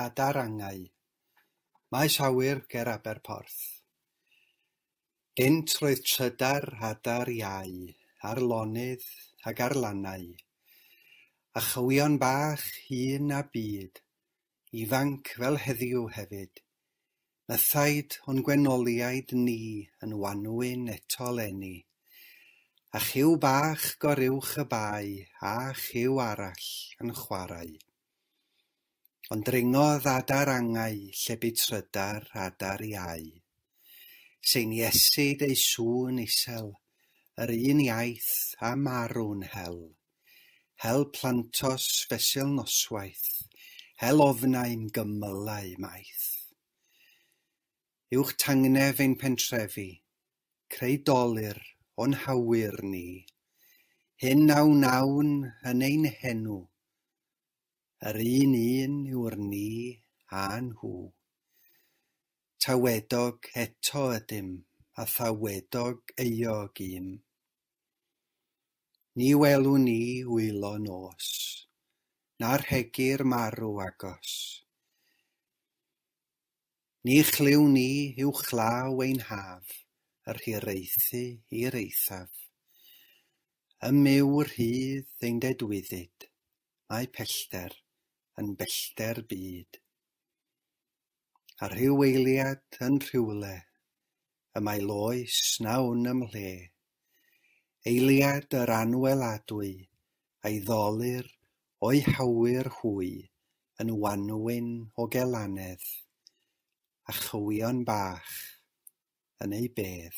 a darangau maes awyr ger Aberporth. Gynt roedd trydar adar iau ar lonydd ag ar lannau, a chywion bach hŷn a byd ifanc fel heddiw hefyd, mythaid o'n gwenoliaid ni yn wanwyn eto 'leni. A chyw bach goruwch y bae a chyw arall yn chwarae. Ond dringodd adar angau lle bu trydar adar iau. Seiniesid ei sŵn isel, yr un iaith a marw'n hel. Hel plantos fesul noswaith, hel ofnau'n gymylau maith. Uwch tangnef ein pentrefi, Creu dolur o'n hawyr ni, Hyn a wnawn yn ein henw, Yr un un yw'r ni a nhw. Tawedog eto ydym, A thawedog euog ym, Ni welwn ni wylo nos, Na rhegir marw agos. Ni chlyw ni yw chlaw ein haf, yr hiraethu i'r eithaf. Ym myw y rhydd ein dedwyddid, mae pellter yn bellter byd. A rhyw eiliad yn rhywle, y mae loes na wn ym mhle. Eiliad yr anweladwy, a'i ddolir o'i hawyr hwy yn wanwyn o gelanedd, a chywion bach yn ei bedd.